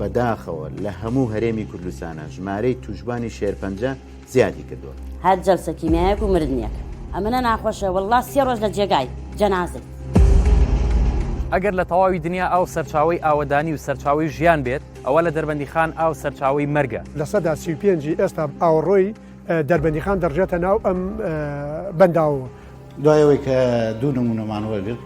بەداخەوە لە هەموو هەرێمی کوردستانە ژمارەی تووشبانی شێرپەنجە زیادی کردوە. هەر جەلسە کیمیایەک و مردنێک. ئەمنە ناخۆشە واللە سێ ڕۆژ لە جێگای جەنازەی. ئەگەر لە تەواوی دنیا ئاو سەرچاوەی ئاوەدانی و سەرچاوەی ژیان بێت ئەوە لە دەربەندیخان ئاو سەرچاوەی مەرگە. لە سەدا سی و پێنج ی ئێستا ئاوەڕۆی دەربەندیخان دەڕژێتە ناو ئەم بەنداوەوە. دوای ئەوەی کە دوو نموونەمان وەرگرت،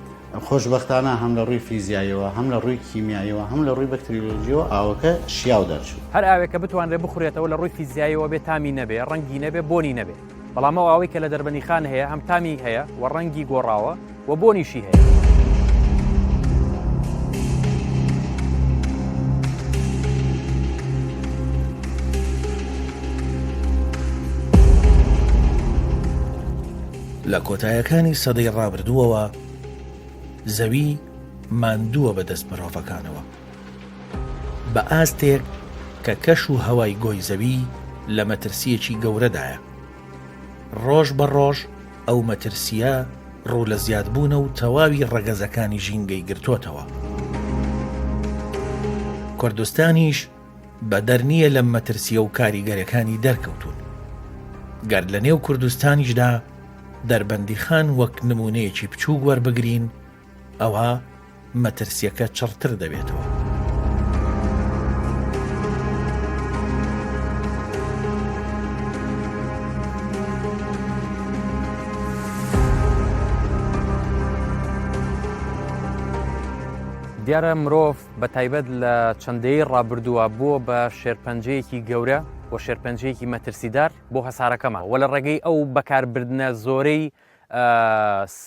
خۆشبەختانە هەم لە ڕووی فیزیاییەوە، هەم لە ڕووی کیمیاییەوە، هەم لە ڕووی بەکتریۆلۆژییەوە ئاوەکە شیاو دەرچوو. هەر ئاوێک کە بتوانرێت بخورێتەوە لە ڕووی فیزیاییەوە بێ تامی نەبێ، ڕەنگی نەبێ، بۆنی نەبێ. بەڵام ئەو ئاوەی کە لە دەربەندیخان هەیە هەم تامی هەیە و ڕەنگی گۆڕاوە و بۆنیشی هەیە. لە کۆتایەکانی سەدەی ڕابردووەوە زەوی ماندووە بە دەست مرۆڤەکانەوە بە ئاستێک کە کەش و هەوای گۆی زەوی لە مەترسیەکی گەورەدایە ڕۆژ بە ڕۆژ ئەو مەترسیە ڕوو لە زیادبوونە و تەواوی ڕەگەزەکانی ژینگەی گرتوتەوە کوردستانیش بەدەر نییە لەم مەترسییە و کاریگەرەکانی دەرکەوتوون. گەر لە نێو کوردستانیشدا دەربەندیخان وەک نموونەیەکی بچووک وەربگرین، ئەوا مەترسییەکە چڕتر دەبێتەوە. دیارە مرۆڤ بە تایبەت لە چەند دەیەی ڕابردووە بووە بە شێرپەنجەیەکی گەورە و شێرپەنجەیەکی مەترسیدار بۆ هەسارەکەمان وە لە ڕێگەی ئەو بەکاربردنە زۆرەی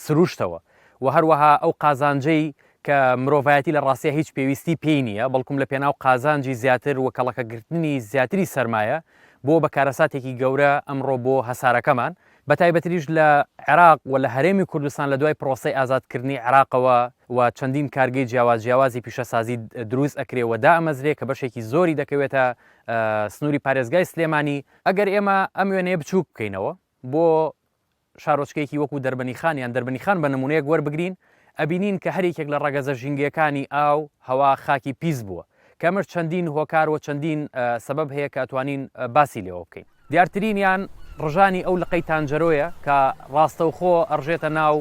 سروشتەوە و هەروەها ئەو قازانجەی کە مرۆڤایەتی لە ڕاستە هیچ پێویستی پێی نییە بەڵکم لە پێناو قازانجی زیاتر و کەڵەکەگرتنی زیاتری سەرمایە بۆ بە کارەساتێکی گەورە ئەمڕۆ بۆ هەسارەکەمان بەتایبەتریش لە عێراق و لە هەرێمی کوردستان لە دوای پرۆسەی ئازادکردنی عێراقەوە و چەندین کارگەی جیاواز جیاوازی پیشەسازی دروست ئەکرێ و دائەمەزرێ کە بەشێکی زۆری دەکەوێتە سنووری پارێزگای سلێمانی، ئەگەر ئێمە ئەم وێنەیە بچووک بکەینەوە بۆ شارۆچکەیەکی وەکوو دەربەنیخان یان دەربەنیخان بە نموونەیەک وەربگرین ئەبینین کە هەر یەکێک لە ڕەگەزە ژینگەکانی ئاو، هەوا، خاکی پیس بووە. کەمەش چەندین هۆکار و چەندین سەبەب هەیە کە ئەتوانین باسی لێوە بکەین. دیارترینیان ڕژانی ئەو لقەی تانجەرۆیە کە ڕاستەوخۆ ئەڕژێتە ناو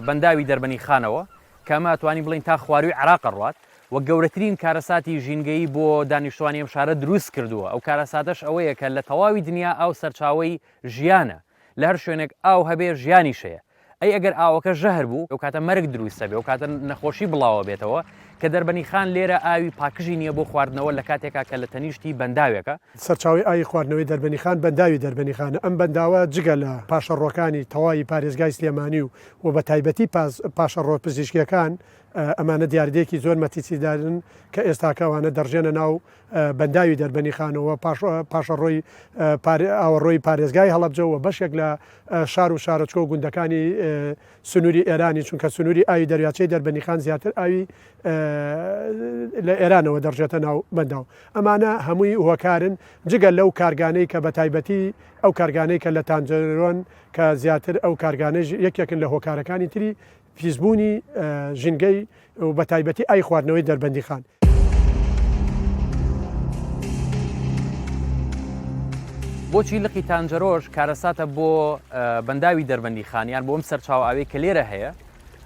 بەنداوی دەربەنی خانەوە کە ئەمە ئەتوانین بڵین تا خواروی عراق ڕوات و گەورەترین کارەساتی ژینگەیی بۆ دانیشتوانی ئەم شارە دروست کردووە ئەو کارەساتەش ئەوەیە کە لە تەواوی دنیا ئاو سەرچاوی ژیانە لە هەر شوێنێک ئاو هەبێ ژیانی شەیە ئەی ئەگەر ئاوەکە ژەهر بوو ئەو کاتە مەرگ دروستە بێ و کاتە نەخۆشی بڵاوە بێتەوە کە دەربەنی خان لێرە ئاوی پاکژی نییە بۆ خواردنەوە لە کاتێکا کە لە تەنیشتی بەنداوێکە. سەرچاوەی ئاوی خواردنەوەی دەربەنی خان بەنداوی دەربەنی خانە، ئەم بەنداوە جگە لە پاشەڕۆکانی تەواوی پارێزگای سلێمانی و و بە تایبەتی پاشەڕۆ پزیشکیەکان ئەمانە دیاردەیەکی زۆر مەتیسیدارن کە ئێستاکە ئەوانە دەڕژێنە ناو بەنداوی دەربەنی خانەوە پاشەڕۆی ئاوەڕۆی پارێزگای هەڵەبجە و بەشێک لە شار و شارۆچکە و گوندەکانی سنووری ئێرانی، چونکە سنووری ئاوی دەریاچەی دەربەندیخان زیاتر ئاوی لە ئێرانەوە دەڕژێتە ناو بەنداو. ئەمانە هەمووی هۆکارن، جگە لەو کارگانەی کە بەتایبەتی ئەو کارگانەی کە لە تانجەرۆن کە زیاتر ئەو کارگانەیش یەکێکن لە هۆکارەکانی تری پیسبوونی ژینگەی و بەتایبەتی ئای خواردنەوەی دەربەندیخان. بۆچی لقی تانجەرۆژ کارەساتە بۆ بەنداوی دەربەندی خانیان بۆم سەرچاو ئاوێ کە لێرە هەیە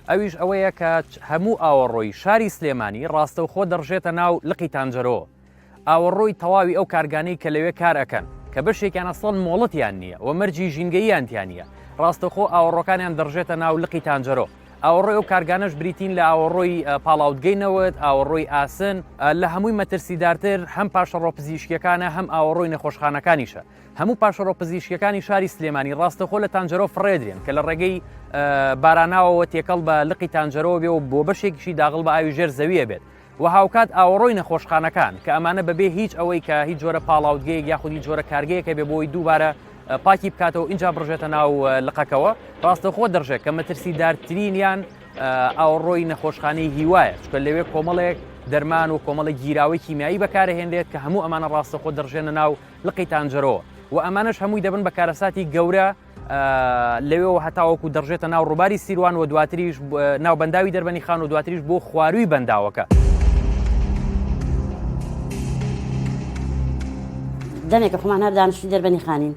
ئەویش ئەوەیە کە هەموو ئاوەڕۆی شاری سلێمانی ڕاستەوخۆ دەڕژێتە ناو لقی تانجەرۆ ئاوەڕۆی تەواوی ئەو کارگانەی کە لەوێ کار ئەکەن کە بەشێکیان ئەسڵەن مۆڵەتیان نییە و مەرجی ژینگەییان تیا نییە ڕاستەخۆ ئاوەڕۆکانیان دەڕژێتە ناو لقی تانجەرۆ ئاوەڕۆی ئەو کارگانەش بریتین لە ئاوەڕۆی پاڵاوتگەی نەوت ئاوەڕۆی ئاسن لە هەمووی مەترسیدارتر هەم پاشەڕۆ پزیشکیەکانە هەم ئاوەڕۆی نەخۆشخانەکانیشە هەموو پاشەڕۆ پزیشکەکانی شاری سلێمانی ڕاستەخۆ لە تانجەرۆ فڕێدرێن کە لە ڕێگەی باراناوەوە تێکەڵ بە لقی تانجەرەوە بێ و بۆ بەشێکیشی داغڵ بە ئاوی ژێر زەویە بێت و هاوکات ئاوەڕۆی نەخۆشخانەکان کە ئەمانە بەبێ هیچ ئەوەی کە هیچ جۆرە پاڵاوتگەیەک یاخود هیچ جۆرە کارگەیەکە بێ بۆی دووبارە پاکی بکاتەوە اینجا بڕژێتە ناو لقەکەوە ڕاستەخۆ دەڕژێت کە مەترسی دارترینیان ئاوڕۆی نەخۆشخانەی هیوایە چکە لەوێ کۆمەڵێک دەرمان و کۆمەڵە گیراوەی کیمیایی بەکارهێنرێت کە هەموو ئەمانە ڕاستەخۆ دەڕژێنە ناو لقی تانجەرەوە و ئەمانش هەمووی دەبن بە کارەساتی گەورە لەوێەوە هەتاوەکو دەڕژێتە ناو ڕووباری سیروان و دواتریش ناو بەنداوی دەربەنی خان و دواتریش بۆ خواروی بەنداوەکە. دەمێکە خۆمان هەر دانیشتی دەربەنی خانین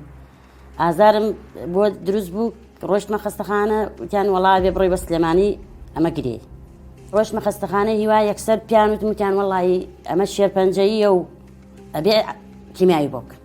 ئازارم بۆ دروست بوو ڕۆشتمە خستەخانە وتیان وڵا بێ بڕی بە سلێمانی ئەمە گرێ ڕۆشتمە خستەخانە هیوا یەکسەر پیان وتمکیان وڵی ئەمە شێرپەنجەیە و ئەبێ کیمیایی بۆکن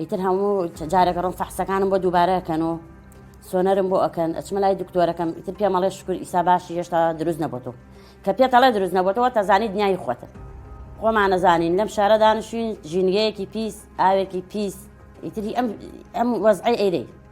ئیتر هەموو جارێک ڕۆم فەحسەکانم بۆ دووبارەکەن و سۆنەرم بۆ ئەکەن ئەچمە لای دکتۆرەکەم ئیتر پێمەڵێ شکر ئیسا باشی هێشتا دروست نەبووتەوە کە پێتەڵێ دروست نەبووتەوە تەزانانی دنیای خۆتە خۆمانەزانین لەم شارە دانشین ژینگەیەکی پیس ئاوێکی پیس ئیتری ئەم ئەم وەزعی ئەیرەی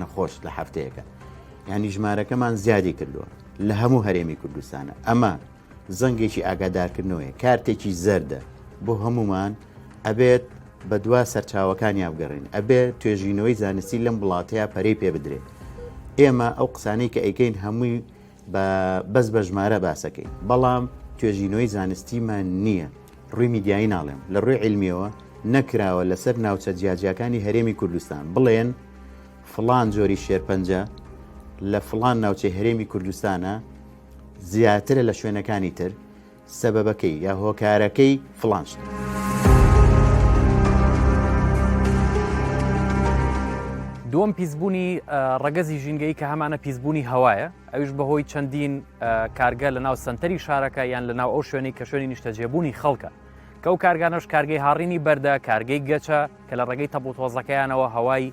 نەخۆش لە هەفتەیەکە ینی ژمارەکەمان زیادی کردووە لە هەموو هەرێمی کوردستانە ئەمە زەنگێکی ئاگادارکردنەوەی کارتێکی زەردە بۆ هەمومان ئەبێت بە دوا سەرچاوەکانیان بگەڕین ئەبێ توێژینەوەی زانستی لەم وڵاتەیە پەرەی پێ بدرێت ئێمە ئەو قسانەی کە ئەیکەین هەمووی با بەس بە ژمارە باسەکەی بەڵام توێژینەوەی زانستیمان نییە ڕووی میدیایی ناڵێم لە ڕووی علمیەوە نەکراوە لەسەر ناوچە جیاجیاکانی هەرێمی کوردستان بڵێن فلان جۆری شێرپەنجە لە فلان ناوچەی هەرێمی کوردستانە زیاترە لە شوێنەکانی تر سەبەبەکەی یا هۆکارەکەی فڵان شتە. دووەم پیسبوونی ڕەگەزی ژینگەی کە هەمانە پیسبوونی هەوایە ئەوش بەهۆی چەندین کارگە لە ناو سنتەری شارەکە یان لە ناو ئەو شوێنی کە شوێنی نیشتەجێبوونی خەڵکە کەو کارگانەش کارگەی هاڕینی بەردە کارگەی گەچە کە لە ڕێگەی تەپڵ تۆزەکەیانەوە هەوای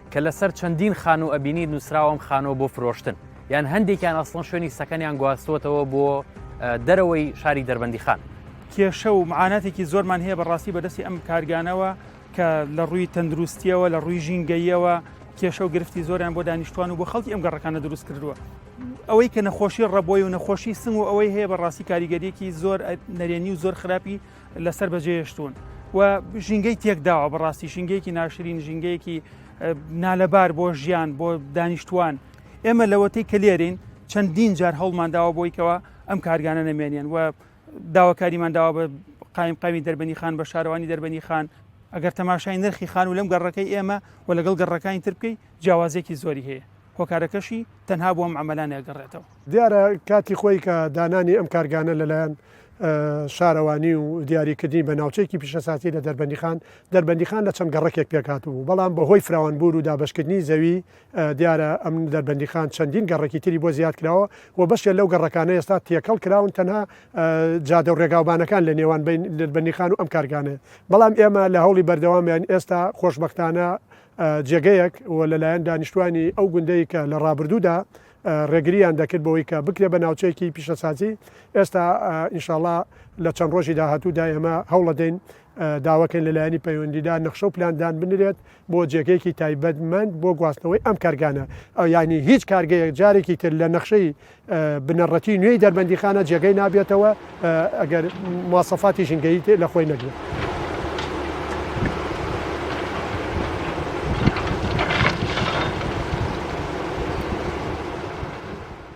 کە لەسەر چەندین خانوو ئەبینیت نووسراوە ئەم خانووە بۆ فرۆشتن یان هەندێکیان ئەسڵەن شوێنی سەکەنیان گواستوەتەوە بۆ دەرەوەی شاری دەربەندی خان کێشە و معاناتێکی زۆرمان هەیە بەڕاستی بەدەستی ئەم کارگانەوە کە لە ڕووی تەندروستیەوە لە ڕووی ژینگەیەوە کێشە و گرفتی زۆریان بۆ دانیشتوان و بۆ خەڵکی ئەم گەڕەکانە دروست کردووە ئەوەی کە نەخۆشی ڕەبۆی و نەخۆشی سنگ و ئەوەی هەیە بە ڕاستی کاریگەریەکی زۆر نەرێنی و زۆر خراپی لەسەر بەجێهێشتوون و ژینگەی تێکداوە بەڕاستی ژینگەیەکی ناشرین ژینگەیەکی نالەبار بۆ ژیان بۆ دانیشتوان ئێمە لەوەتەی کە لێرین چەندین جار هەڵمانداوە بۆیکەوە ئەم کارگانە نەمێنیان و داواکاریمان داوا بە قایم قامی دەربەنی خان بە شارەوانی دەربەنی خان ئەگەر تەماشای نرخی خان و لەم گەڕەکەی ئێمە و لەگەڵ گەڕەکانی تر بکەی جیاوازێکی زۆری هەیە هۆکارەکەشی تەنها بۆ ئەم عەمەلانە ئەگەڕێتەوە. دیارە کاتی خۆی کە دانانی ئەم کارگانە لەلایەن شارەوانی و دیاریکردنی بە ناوچەیەکی پیشەساتی لە دەربەندیخان دەربەندیخان لە چەند گەڕەکێک پێکات بوو بەڵام بەهۆی فراوانبوور و دابشکردنی زەوی دیارە ئەم دەربەندیخان چەندین گەڕێکی تری بۆ زیاد کراوە و بەشێ لەو گەڕەکانە ئێستا تێکەڵ کراون تەنها جادە و ڕێگاوبانەکان لە نێوان بین دەربەندیخان و ئەم کارگانێ بەڵام ئێمە لە هەوڵی بەردەوامیان ئێستا خۆشببختانە جێگەیەک و لەلایەن دانیشتوانی ئەو گوندەی کە لە ڕابردوودا ڕێگرییان دەکرد بەوەی کە بکرێ بە ناوچەیەکی پیشەسازی ئێستا ان شاءاللە لە چەند ڕۆژی داهاتوودا ئێمە هەوڵەدەین داواکەین لەلایەنی پەیوەندیدار نەخشە و پلاندان بنرێت بۆ جێگەیەکی تایبەتمەند بۆ گواستنەوەی ئەم کارگانە ئەو یانی هیچ کارگەیەک جارێکی تر لە نەخشەی بنەڕەتی نوێی دەربەندیخانە جێگەی نابێتەوە ئەگەر مواسەفاتی ژینگەیی تێ لە خۆی نەگرێت.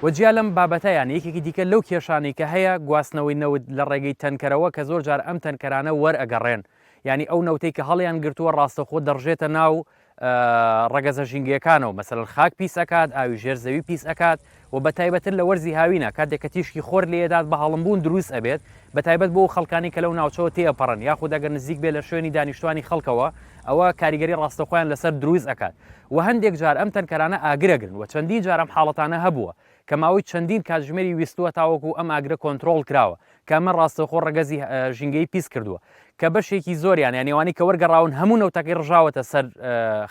و جیا لەم بابەتە یان یەکێکی دیکە لەو کێشانەی کە هەیە گواستنەوەی نەوت لە ڕێگەی تەنکەرەوە کە زۆر جار ئەم تەنکەرانە وەرئەگەڕێن یانی ئەو نەوتەی کە هەڵیان گرتووە ڕاستەخۆ دەڕژێتە ناو ڕەگەزە ژینگەکانەوە مەسەن خاک پیس ئەکات ئاوی ژێر زەوی پیس ئەکات و بە تایبەتر لە وەرزی هاوینە کاتێک کە تیشکی خۆر لێدات بە هەڵمبوون دروست ئەبێت بە تایبەت بۆ خەڵکانی کە لەو ناوچەوە تێپەڕن یاخود ئەگەر نزیک بێ لە شوێنی دانیشتوانی خەڵکەوە ئەوە کاریگەری ڕاستەخۆیان لەسەر دروست ئەکات و هەندێک جار ئەم تەنکەرانە ئاگرەگرن و چەندین جارم حاڵەتانە هەبووە کە ماوەی چەندین کاتژمێری ویستووە تاوەکو ئەم ئاگرە کۆنترۆڵ کراوە، کە ئەمە ڕاستەوخۆ ڕەگەزی ژینگەی پیس کردووە، کە بەشێکی زۆریان یانی ئەوانەی کە وەرگەڕاون هەموو نەوتەکەی ڕژاوەتە سەر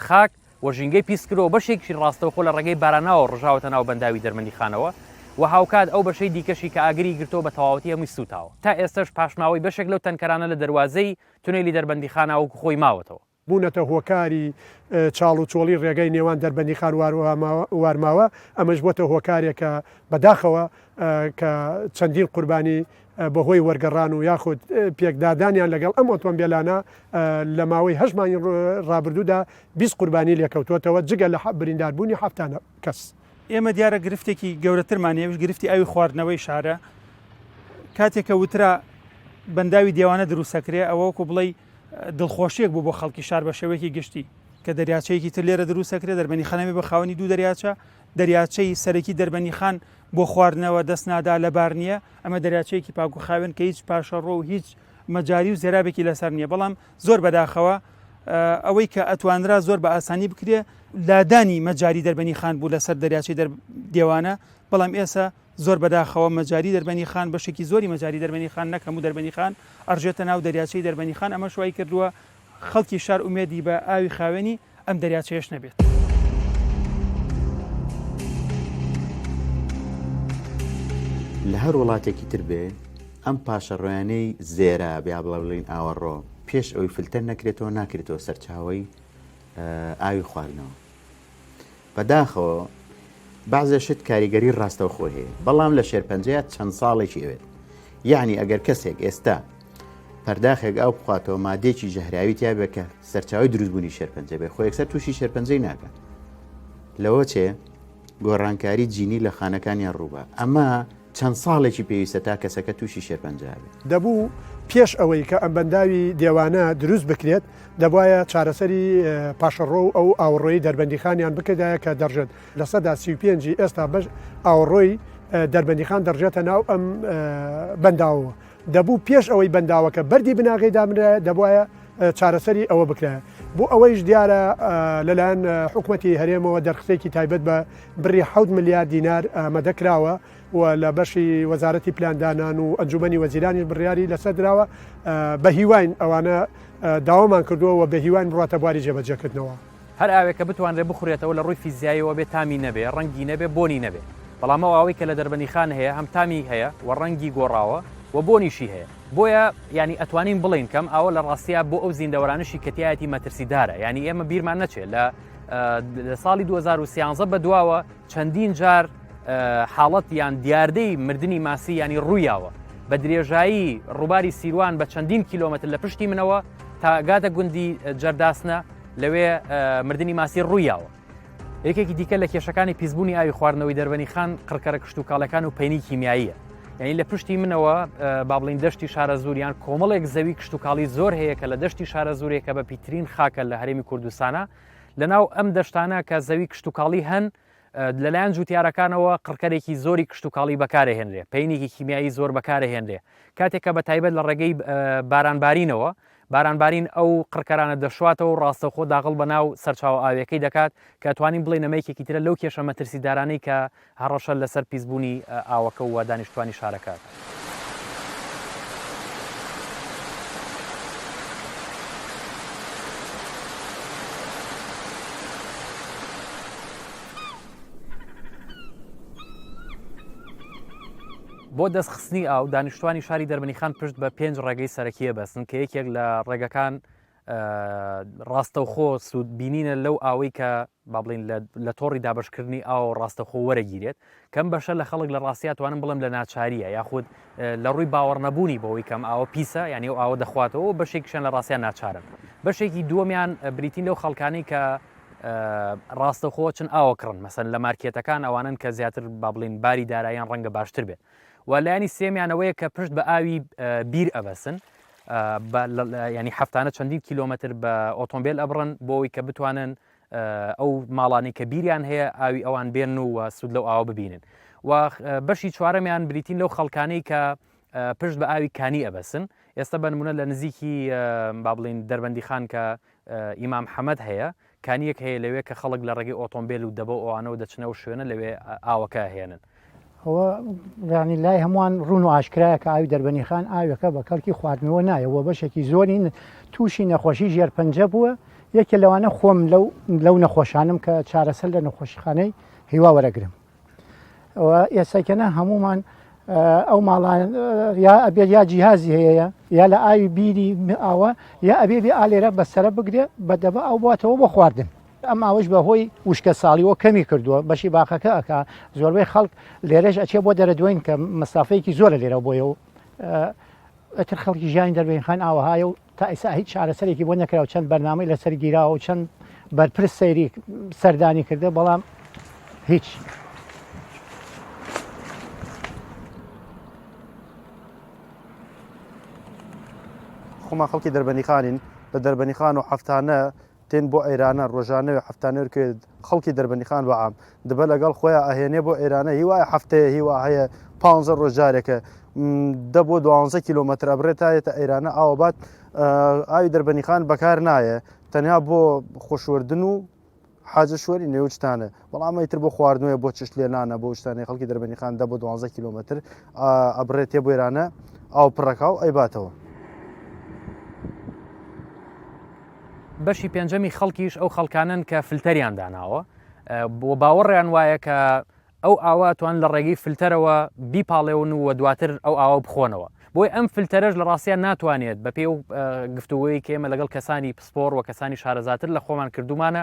خاک و ژینگەی پیس کردووە، بەشێکیشی ڕاستەوخۆ لە ڕێگەی باراناوە ڕژاوەتە ناو بەنداوی دەرمەندیخانەوە و هاوکات ئەو بەشەی دیکەشی کە ئاگری گرتووە بە تەواوەتی هەمووی سووتاوە. تا ئێستەش پاشماوەی بەشێک لەو تەنکەرانە لە دەروازەی تونێلی دەربەندیخانە وەکو خۆی ماوەتەوە. بوونەتە هۆکاری چاڵ و چۆڵی ڕێگای نێوان دەربەندیخان وارماوە، ئەمەش بۆتە هۆکارێک کە بە داخەوە کە چەندین قوربانی بە هۆی وەرگەڕان و یاخود پێکدادانیان لەگەڵ ئەم ئۆتۆمبێلانە لە ماوەی هەشت مانگی ڕابردوودا بیست قوربانی لێکەوتۆتەوە جگە لە بریندار بوونی حەفتا کەس. ئێمە دیارە گرفتێکی گەورەترمان هەیە ئەویش گرفتی ئاوی خواردنەوەی شارە کاتێک کە وترا بەنداوی دێوانە دروستەکرێ ئەوە وەکو بڵێی دڵخۆشییەک بوو بۆ خەڵکی شار بە شێوەیەکی گشتی، کە دەریاچەیەکی تر لێرە دروست دەکرێت، دەربەنیخانەبێت بە خاوەنی دوو دەریاچە، دەریاچەی سەرەکی دەربەنیخان بۆ خواردنەوە دەست نادا، لەبار نییە، ئەمە دەریاچەیەکی پاک و خاوێن کە هیچ پاشەڕۆ و هیچ مەجاری و زێرابێکی لەسەر نییە، بەڵام زۆر بەداخەوە ئەوەی کە ئەتوانرا زۆر بە ئاسانی بکرێت، لادانی مەجاری دەربەنیخان بوو لەسەر دەریاچەی دێوانە، بەڵام ئێسە زۆر بەداخەوە مەجاری دەربەنی خان بەشێکی زۆری مەجاری دەربەنی خان نەک هەموو دەربەنی خان ئەڕژێتە ناو دەریاچەی دەربەنی خان ئەمەش وای کردووە خەڵکی شار ئومێدی بە ئاوی خاوێنی ئەم دەریاچەیەش نەبێت. لە هەر وڵاتێکی تر بێ ئەم پاشەڕۆیانەی زێرا بیا بڵە بڵین ئاوەڕۆ پێش ئەوی فلتەر نەکرێتەوە ناکرێتەوە سەرچاوی ئاوی خواردنەوە. بەداخەوە بەعزێ شت کاریگەری ڕاستەوخۆی هەیە بەڵام لە شێرپەنجەیە چەند ساڵێکی ئەوێت یعنی ئەگەر کەسێک ئێستا پەرداخێک ئەو بخواتەوە مادێکی ژەهراوی تیاێک کە سەرچاوی دروستبوونی شێرپەنجە بێ خۆیەکسەر تووشی شێرپەنجەی ناکە لەوە چێ گۆڕانکاری جینی لە خانەکانیان ڕووبە ئەمە چەند ساڵێکی پێویستە تا کەسەکە تووشی شێرپەنجە بێت؟ دەبوو پێش ئەوەی کە ئەم بەنداوی دێوانە دروست بکرێت دەبوایە چارەسەری پاشەڕۆ و ئەو ئاوڕۆی دەربەندیخانیان بکردایە کە دەڕژێت لە سەدا سی پێنجی ئێستا بەش ئاوڕۆی دەربەندیخان دەڕژێتە ناو ئەم بەنداوەوە دەبوو پێش ئەوەی بەنداوەکە بەردی بناغەی دابنرایە دەبوایە چارەسەری ئەوە بکرایە بۆ ئەوەیش دیارە لەلایەن حکوومەتتی هەرێمەوە دەرخسێکی تایبەت بە بڕی ح ملیار دینار ئامادە کراوە و لە بەشی وەزارەتی پلاندانان و ئەنجومی وەزیرانیش بڕیاری لەسەر دراوە بە هیواین ئەوانە داوامان کردووە و بە هیواین بڕاتە بواری جێبەجێکردنەوە. هەر ئاوێک کە بتوانرێت بخورێتەوە لە ڕووی فیزیاییەوە بێ تامی نەبێ، ڕەنگی نەبێ، بۆنی نەبێ. بەڵام ئەو ئاوەی کە لە دەربەندیخان هەیە هەم تامی هەیە و ڕەنگی گۆڕاوە و بۆنیشی هەیە. بۆیە یانی ئەتوانین بڵێین کە ئەم ئاوە لە ڕاستیا بۆ ئەو زیندەوەرانەشی کە تیایەتی مەترسیدارە. یانی ئێمە بیرمان نەچێ لە ساڵی دوو هەزار و سیانزە بەدواوە، چەندین جار حاڵەت یان دیاردەی مردنی ماسی ینی ڕوویاوە بە درێژایی ڕووباری سیروان بە چەندین کیلومتر لە پشتی منەوە تاگاتە گوندی جەرداسنە لەوێ مردنی ماسی ڕوویاوە یەکێکی دیکە لە کێشەکانی پیسبوونی ئاوی خواردنەوەی دەربەنی خان قڕکەرە کشت و کاڵەکان و پینی کیمیاییە یعنی لە پشتی منەوە بابلین دەشتی شارە زوریان کۆمەڵێک زەوی کشت و کاڵی زۆر هەیە کە لە دەشتی شارە زورێکە بە پیترین خاکە لە هەرێمی کوردستانە لەناو ئەم دەشتانە کە زەوی کشتتوکاڵی هەن لەلایەن جوتیارەکانەوە قڕکەرێکی زۆری کشتتوکاڵی بەکارهێنرێ پینێکی کیمیایی زۆر بەکارهێنرێ کاتێکە بە تایبەت لە ڕێگەی بارانبارینەوە بارانبارین ئەو قڕکەرانە دەشواتەوە ڕاستەخۆ داغڵ بە ناو سەرچاو ئاوێکەی دەکات کە توانین بڵێ نەمەیەکێکی ترە لەو کێشە مەترسیدارانەی کە هەڕەشە لەسەر پیسبوونی ئاوەکە و دانیشتووانی شارەکە. بۆ دەستخستنی ئاو، دانیشتووانی شاری دەربەنیخان پشت بە پێنج ڕێگەی سەرەکی ئەبەستن کە یەکێک لە ڕێگەکان ڕاستەوخۆ سوود بینینە لەو ئاوەی کە با بڵین لە تۆڕی دابشکردنی ئاو ڕاستەخۆ وەرەگیرێت کەم بەشە لە خەڵک لە ڕاستیا توانم بڵم لە ناچاریە یاخود لە ڕووی باوەڕ نەبوونی بەوەی کەم ئاوە پیسە ینی و ئاوە دەخواتەوە بەشێکیشان لە ڕاستیان ناچارن بەشێکی دووەمیان بریتین لەو خەڵکانی کە ڕاستەخۆ چن ئاوە کڕن مەسن لە مارکێتەکان ئەوانن کە زیاتر با بڵین باری دارایان ڕەنگە باشتر بێت و لایانی سێمیانەوەیە کە پشت بە ئاوی بیر ئەبەسن بە یعنی هەفتانە چەندین کیلۆمەتر بە ئۆتۆمبیل ئەبڕن بۆەوەی کە بتوانن ئەو ماڵانی کە بیریان هەیە ئاوی ئەوان بێن و سوود لەو ئاوە ببینن و بەشی چوارەمیان بریتین لەو خەڵکانەی کە پشت بە ئاوی کانی ئەبەسن ئێستا بنمونە لە نزیکی با بڵین دەربەندی خان کە ئیمام حەمەد هەیە کانییەک هەیە لەوێ کە خەڵک لە ڕێگەی ئۆتۆمبێل و دەبە و ئەوانەوە دەچنە ئەو شوێنە لەوێ ئاوەکە ئەهێنن. ئەوە یانی لای هەمووان ڕوون و ئاشکرایە کە ئاوی دەربەنیخان ئاوێکە بە کەڵکی خواردنەوە نایە و بەشێکی زۆری تووشی نەخۆشی ژێرپەنجە بووە، یەکێ لەوانە خۆم لەو لەو نەخۆشانم کە چارەسەر لە نەخۆشیخانەی هیوا وەرەگرم. ئێسەکەە هەمومان ئەو ماڵان یا ئەبێت یا جیهازی هەیە یا لە ئاوی بیری ئاوە یا ئەبێ بێ ئالێرە بەسرە بگرێ بە دەبە ئەو باتەوە بە خواردن ئەم ئاوش بە هۆی وشکە ساڵیەوە کەمی کردووە بەشی باخەکە ئەک زۆربەی خەڵک لێرەش ئەچێ بۆ دەرە دوین کە مەسافەیەکی زۆرە لێرە بۆیە و ئەتر خەڵکی ژیانی دەربین خان ئاوەهایە و تا ئیستا هیچ چارەسەرێکی بۆ نەکراو چەند بەرنامەی لەسەر گیراوە و چەند بەرپرس سەیری سەردانی کردە بەڵام هیچ. خۆمان خەڵکی دەربەنیخانین لە دەربەنیخان و هەفتانە تین بۆ ئەیرانە ڕۆژانە وێ حەفتانە ورکەێ خەڵکی دەربەندیخان بە عام دبە لەگەڵ خۆیان ئەهێنێ بۆ ئێرانە هی وایە حەفتەیە هی وا هەیە پانزە ڕۆژ جارێکە دە بۆ دوانزە کیلومەتر ئەبرێت تا یێتە ئێرانە ئاوە بات ئاوی دەربەنیخان بەکار نایە تەنها بۆ خۆشوردن و حاجە شوەری نێوچتانە بەڵام ئیتر بۆ خواردنەوەی بۆ چشت لێنانە بۆ شتانەی خەڵکی دەربەنیخان دە بۆ دوانزە کیلومتر ئەبرێت تێ بۆێرانە ئاو پڕەکە و ئەیباتەوە. بەشی پێنجەمی خەڵکیش ئەو خەڵکانن کە فلتەریان داناوە بۆ باوەڕیان وایە کە ئەو ئاواتوان لە ڕێگەی فلتەرەوە بیپاڵێون و دواتر ئەو ئاوا بخۆنەوە بۆی ئەم فلتەرش لە ڕاستیان ناتوانێت بە پێ و گفتوگوی کێمە لەگەڵ کەسانی پسپۆر و کەسانی شارەزاتر لە خۆمان کردومانە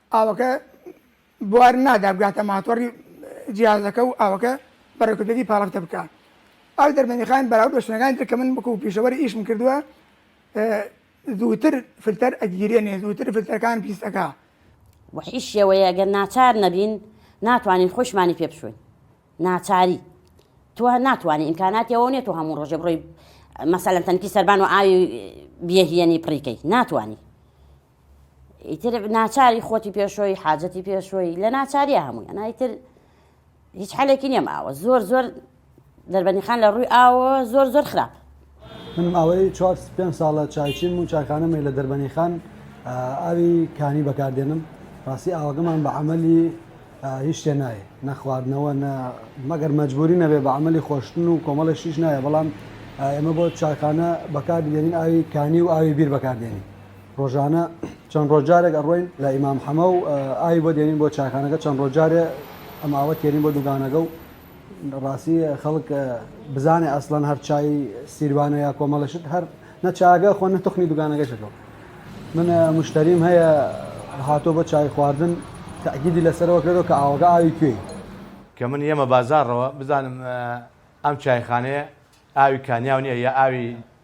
ئاوەکە بوار نادا بگاتە ماتۆڕی جیازەکە و ئاوەکە بە ڕێکوپێکی پاڵەفتە بکا ئاو دەرمەنیخان بەراورد بە شوێنەکانی تر کە من وەکو پیشەوەری ئیشم کردووە زووتر فلتەر ئەگیرێنێ زووتر فلتەرەکان پیس ئەکا بە هیچ شێوەیە گەر ناچار نەبین ناتوانین خۆشمانی پێ بشوین ناچاری تۆ ناتوانانی ئیمکاناتی ئەوە نیە تۆ هەموو ڕۆژێ بڕۆی مەسەلەن تەنکی سەربان و ئاوی بێهیەنی پڕیکەی ناتوانانی ئیتر ناچاری خۆتی پێشۆی حاجەتی پێشۆی لە ناچاریە هەمووی ئەنایتر هیچ حالێکی نیەم ئاوە زۆر زۆر دەربەنیخان لە ڕووی ئاوە زۆر زۆر خراپ من ئەوەی چوار پێ ساڵە چایچیم و چاکانەمەی لە دەربەنی خان ئاوی کانی بەکاردێنم ڕاستی ئاوەکەمان بە عملی هیچ شتێ نایە نەخواردنەوە نە مەگەر مەجبوری نەبێ بە عملی خۆشتن و کۆمەڵی شیش نایە بەڵام ئێمە بۆ چاکانە بەکاردێنین ئاوی کانی و ئاوی بیر بەکاردێنین ڕۆژانە چەند ڕۆژجارێک ئەڕۆین لە ئیمام حەمە و ئاوی بۆ دێنین بۆ چاکانەکە چەند ڕۆژجارێ ئەم ئاوە تێنین بۆ دووگانەکە و ڕاستی خەڵک بزانێ ئەسڵەن هەر چای سیروانە یا کۆمەڵشت هەر نەچاگە خۆ نە تخنی دوگانەکەشەکەەوە من مشتریم هەیە هاتۆ بە چای خواردن تاگیدی لەسەرەوە کرێتەوە کە ئاوەکە ئاوی کوێی کە من یەمە بازارڕەوە بزانم ئەم چایخانەیە ئاوی کانیاو نیە یا ئاوی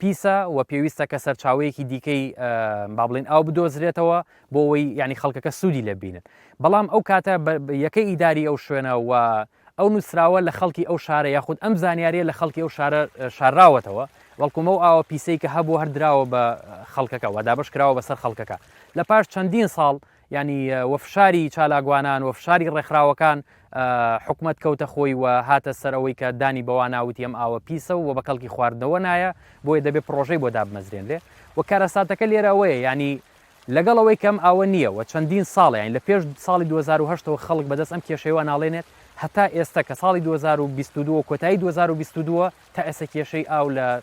پیسە و پێویستە کە سەرچاوەیەکی دیکەی با بڵین ئاو بدۆزرێتەوە بۆ ئەوەی ینی خەڵکەکە سوودی لێ بینن بەڵام ئەو کاتە یەکەی ئیداری ئەو شوێنە و ئەو نووسراوە لە خەڵکی ئەو شارە یاخود ئەم زانیاریە لە خەڵکی ئەو شارە شاراوەتەوە بەڵکومە و ئاوە پیسەی کە هەبوو هەردراوە بە خەڵکەکە و دابش کراوە بەسەر خەڵکەکە لە پاش چەندین ساڵ یانی وە فشاری چالاکوانان وە فشاری ڕێکخراوەکان حکومەت کەوتە خۆی و هاتە سەر ئەوەی کە دانی بەوا ناوتی ئەم ئاوە پیسە و بە کەڵکی خواردنەوە نایە بۆیە دەبێ پرۆژەی بۆ دابمەزرێنرێ و کارەساتەکە لێرە ئەوەیە ینی لەگەڵ ئەوەی کەم ئاوە نییە و چەندین ساڵیان لە پێش ساڵی 2010ەوە خەڵک بەدەست ئەم کێشەوە ناڵێنێت هەتا ئێستا کە ساڵی 2022 کۆتایی 2022 تا ئێستا کێشەی ئاو لە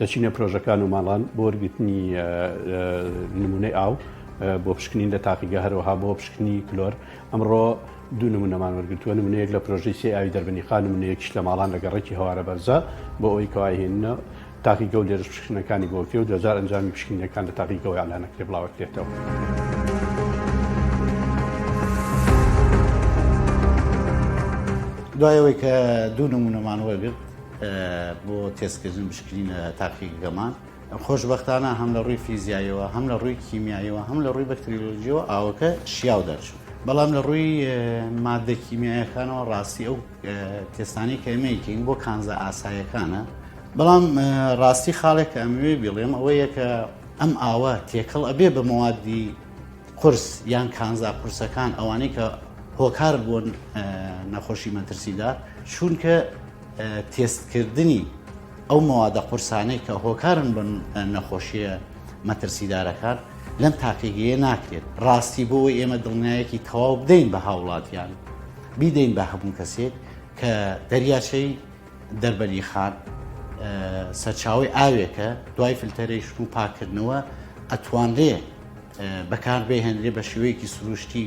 دەچینە پرۆژەکان و ماڵان بۆ وەرگرتنی نمونەی ئاو بۆ پشکنین لە تاقیگە هەرەوەها بۆ پشکنی کلۆر ئەمڕۆ دوو نمونەمان وەرگتووە نمونەیەک لە پرۆژی سی ئاوی دەربنی خان نمونەیەکیش لە ماڵان لە گەڕێکی هەوارە بەرزە بۆ ئەوی کەواهێنە تاقی گەو لێرش پشکنەکانی بۆکرێ و دوجار ئەنجامی پشکنینەکان لە تاقی گەوە ئالانەکرێ بڵاوەکرێتەوە. دوایەوەی کە دوو نمونەمان وەرگرت بۆ تێستکردن بشکرینە تاقی گەمان. خۆشبەختانە هەم لە ڕووی فیزیاییەوە هەم لە ڕووی کیمیاییەوە هەم لە ڕووی بەکتریلۆژیەوە ئاوەکە شیاو دەرچوو بەڵام لە ڕووی مادە کیمیایەکانەوە ڕاستی ئەو تێستانی کە ئەمەیکەین بۆ کانزە ئاسایەکانە بەڵام ڕاستی خاڵێک کە ئەموێ بڵێم ئەوەیە کە ئەم ئاوە تێکەڵ ئەبێ بە مەوادی قرس یان کانزا قورسەکان ئەوانەی کە هۆکار بوون نەخۆشی مەترسیدا چونکە تێستکردنی ئەو مەوادە قورسانەی کە هۆکارن بن نەخۆشیە مەترسیدارەکان لەم تاقیگەیە ناکرێت ڕاستی بۆ ئێمە دڵنیایەکی تەواو بدەین بە هاوڵاتیان بیدەین بە هەموو کەسێک کە دەریاچەی دەربەری خان سەرچاوی ئاوێکە دوای فلتەرەیش و پاکردنەوە ئەتوانرێ بەکار بهێنرێ بە شێوەیەکی سروشتی